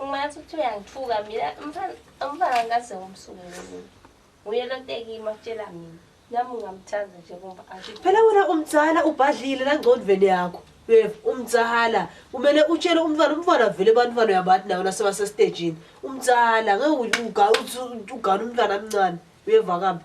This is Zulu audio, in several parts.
Ungathi ukuthi uyangithuka mina umfana umfana ngase ngomsuke mina. Nguye lo tekima kutshela mina. Nami ungamthanda nje kumba athi. Phela wena umdzala ubhadlile nangcondvweni yakho. Uyeva umdzala kumele utshele umntwana umntwana vele abantwana uyabathi nawo nasebasesitejini. Umdzala ngeke uga uthi ugana umntwana omncane. Uyeva kambe?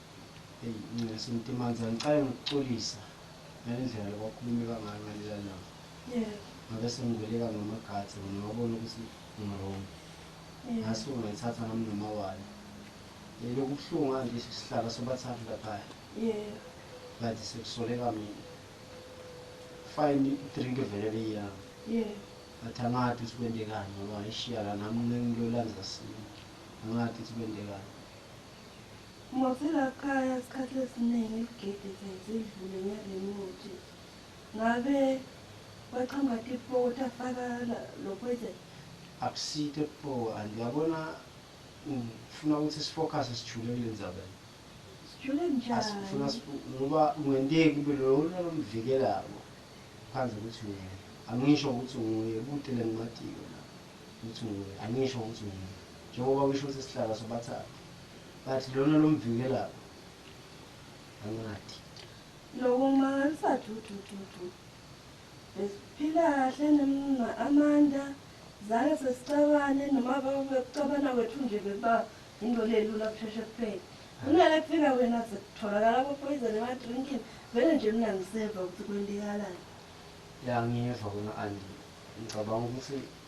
Eyi Nxesi Mtimanzi angiqale ngokuxolisa ngale ndlela lokwakhulumeka ngayo ngaleya langa. Yebo. Ngabe sengibeleka ngama guards wena ngawabona ukuthi ngiwrong. Yebo. Ngasuke ngayithatha nami nomawala. Yayilokhu ibuhlungu kanje sihlala sobathathu laphaya. Yebo. Kanti sekusoleka mina. Fine idrink vele beyiyami. Yebo. But angazi ukuthi kwendekani ngoba ngayishiya la nami ngilolandisa sini. Angazi ukuthi kwendekani. Muthi lakhaya isikhathi esiningi isigidi sezidlule ngale muthi ngabe kwaqhamuka tipho ukuthi afaka lo poison? Akusito tipho and yabona ngifuna ukuthi sifokhase sijule kule ndzaba sijule njani asifuna ngoba kungenteki kube lona lomvikelako phandle ukuthi nguye angisho ukuthi nguye kute lengimatiko la ukuthi nguye angisho ukuthi nguye njengoba kusho ukuthi sihlala sobathathu but lona lomvikelayo angathi nokumangalisa dudududu besiphila kahle nemna amanda zange sesicabane noma bekucabana kwethu nje bekuba into lelula kusheshe kuphele kunale kufika wena sekutholakala abopoison emadrinkini vele nje mina ngiseva ukuthi kwentekalani ya ngiva kona andi ngicabanga ukuthi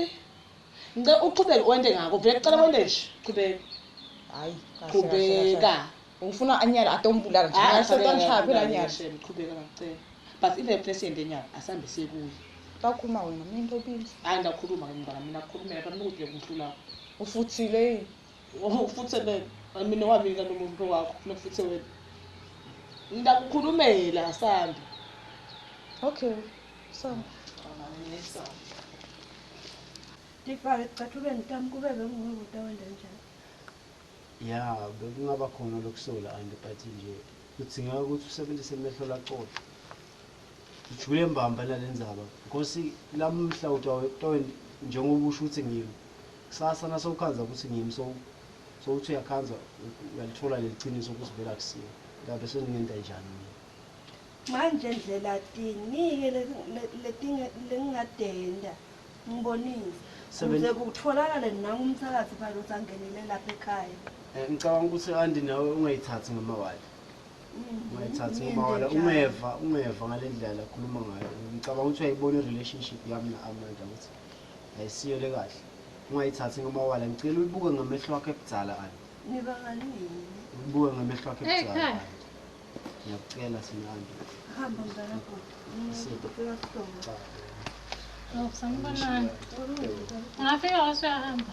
Ey. Ngicela uqhubeke wente ngako vele cela wente nje. Qhubeka. Hayi. Qhubeka. Ufuna anyala atombulala nje. Hayi sekanishaya phela anyala. Qhubeka ngicela. But if emfuna siyende enyala asambe sekuye. Bakhuluma wena mina into obile. Hayi ngiyakhuluma ke mntwana mina kukhulumela phela mina ukuthi ngiyakumhlula. Ufuthile yini? Ufuthe mina, mina wami ngani umuntu wakho funa kufuthe wena. Ngiyakukhulumela Sandi. Okay. Sandi. Ngifake ecathulweni tami kube bengingubuta wenda njani. Ya, bekungaba khona lokusola anti but nje kudingeka ukuthi usebenzise amehlo lacoca. Ngijule mbamba nalendzaba Nkosi lamhla utawent njengoba usho ukuthi ngim ksasa nasewukhandza kutsi ngim so so uthi uyakhandza uyalitfola leliciniso kutsi vele akusiye ngabe sengingenta njani mina. Manje ndlela tinike letinge lengingatenta ngibonise kuze kutfolakale nangu mthakathi phela uthi angenile lapha ekhaya. Ngicabanga kutsi anti nawe ungayitsatsi ngemawala. ungayithathi ngoba wala ungeva ungeva ngale ndlela akhuluma ngayo ngicabanga ukuthi uyayibona i-relationship yami na-amanda ukuthi ayisiyo le kahle ungayithathi ngoba wala ngicela uyibuke ngamehlo wakho ebudzala ani uyibuke ngamehlo wakho ebudzala ani ngiyakucela sinandi Ngafika wasuyahamba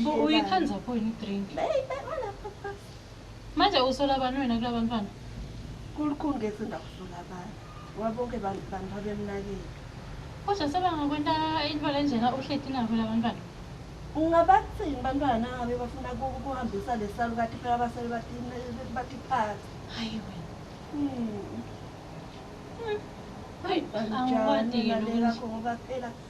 Mbo uyikhanza pho yini drink? Hey, mana papa. Manje usola abantu wena kula bantwana? Kulikhulu ke sinda kusola abantu. Ngoba bonke bantu bantu abemnakile. Kodwa sebangakwenta into lenjena uhleti nabo la bantwana. Ungabathini bantwana nangabe bafuna ukuhambisa lesalukati phela abasele batiphatha. Hayi wena. Hmm. Hmm. Hayi, angikwadi yini ukuthi. Ngoba phela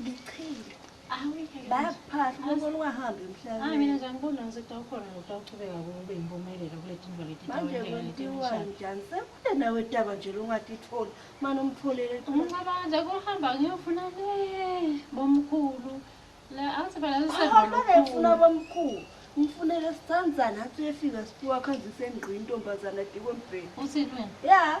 Ngichile. Bayakuphahla, ubona ungahambi emhlabeni. Hayi mina nje angiboni ukuthi kutawukhona nokutawuchubeka kube impumelelo kule tinto leti. Manje kwenziwa njani? Sekude nawe daba nje longatitholi. Manje umtholele. Umcabanga nje kuhamba ngiyofuna le bomkhulu. La athi phela sisebona. Hamba ke funa bomkhulu. Ngifunele sithandana athi uyefika sipiwa khanjise ngqi intombazana dikwe mbheni. Uthini wena? Yeah.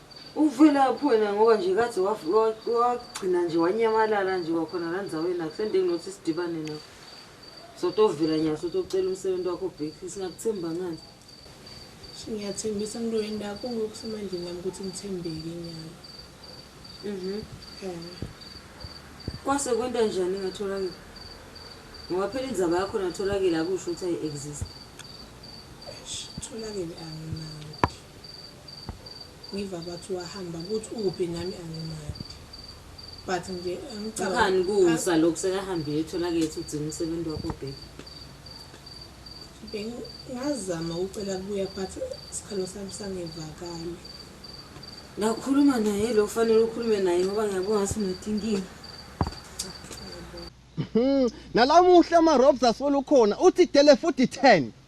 Uvelaphi wena ngoba nje kathi wagcina nje wanyamalala nje wakhona la ndzaweni akusende nginothi sidibane nawe sotovela nyalo sotocela umsebenzi wakho bheki singakuthemba ngani ngiyathembisa mntu wendako ngokusemandleni yami ukuthi ngithembeke nyalo mhm kwase kwenta njani ngatholakele ngoba phela indzaba yakho natholakele akusho ukuthi ayi-exist tholakele anginayo Ngiva bathi wahamba kuthi ukuphi nami angimadi. But nje engicabanga Ukhani kusa lokhu sekahambe uyothola kethi ugcina umsebenzi wakho baby. Bengazama ukucela kubuya but sikhalo sami sangevakali. Ngakhuluma naye lo kufanele ukhulume naye ngoba ngiyabona ngathi unethe inkinga. Nalamuhla ama-robs asolukhona uthi dele futhi 10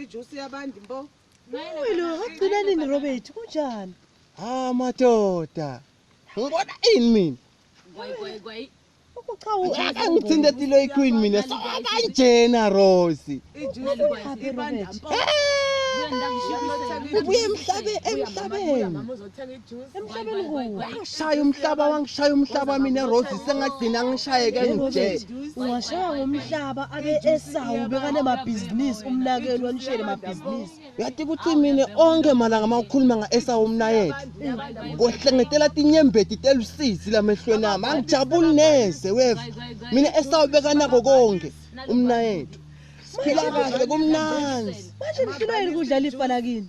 Ijuice yabantu mbo. Uwe lo agcina nini Robert kunjani? Ah madoda. Ngibona ini mina? Gwayi gwayi gwayi. Akangithinte tilo iqueen mina so akanjena Rose. Ijuice yabantu mbo. Ubuye emhlabe emhlabeni. wangishaya umhlaba wangishaya umhlaba mina rose sengagcina ngishayeke ngije ungashaya ngomhlaba abe esawu bekane mabhizinisi umnakeli wanishele mabhizinisi uyati ukuthi mina onke malanga uma ukhuluma nga-esawu umnayethe kohlengetela tinyembeti telusizi lamehlweni ami angijabuli neze weva mina esawu bekanako konke umnayethu siphila kahle kumnanzi manje nihlulwa yini kudlala ifana kini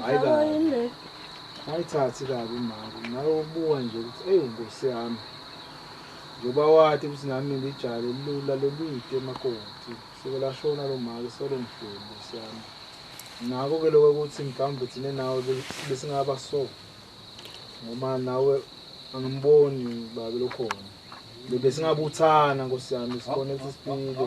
Hayi kabi. Mayithathi kabi mama. Ngawe ubuka nje ukuthi hey Nkosi yami. Njoba wathi ukuthi nami ngijale lula lolwide emakoti. Sebelashona lo mali solo mfulu Nkosi yami. Nako ke lokho ukuthi mhlawumbe thina nawe besingaba so. Ngoba nawe angimboni babe lokhona. Bese ngabuthana Nkosi yami sibone ukuthi siphile.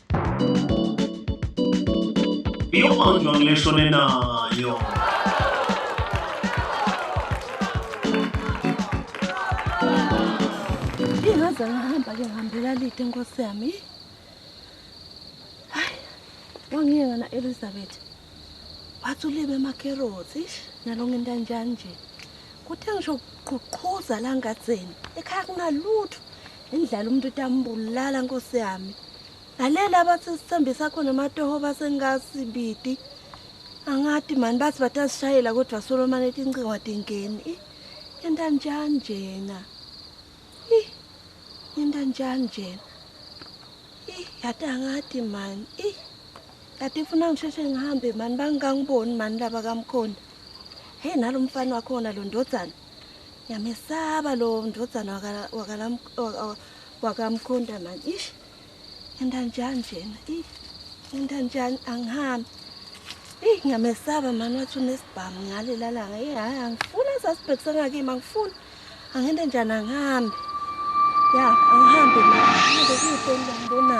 Iyomandwa ngisho nenayo. Ingaze ngahamba ke ngihambela lide nkosi yami. Hayi. Wangiyeka na Elizabeth. Wathi ulibe amakerotsi ish nalonke into anjani nje. Kuthe ngisho kuqhuqhuza la ngatseni. Ekhaya kunalutho. Indlala umuntu utambulala nkosi yami. Lalela abathi sithembisa khona amatoho basengasibidi. Angati mani bathi batasishayela kodwa Solomon etincingo atingeni. Yenta njani njena? Ih. Yenta njani njena? Ih, yata ngati mani. Ih. Kati funa ngisheshe ngihambe mani bangangiboni mani laba kamkhonda. Hey nalomfana wakhona lo ndodzana. Ngiyamesaba lo ndodana waka waka wakamkhonda man. Ish. Ngenda njani njena? Ih. Ngenda njani angihambi. Ih ngiyamesaba man wathi unesibhamu ngale lalanga. Ih hayi angifuni asasibhekisa ngake mangifuni. Angende njani angihambi. Ya, angihambi man. Ngeke kuhle ngibona.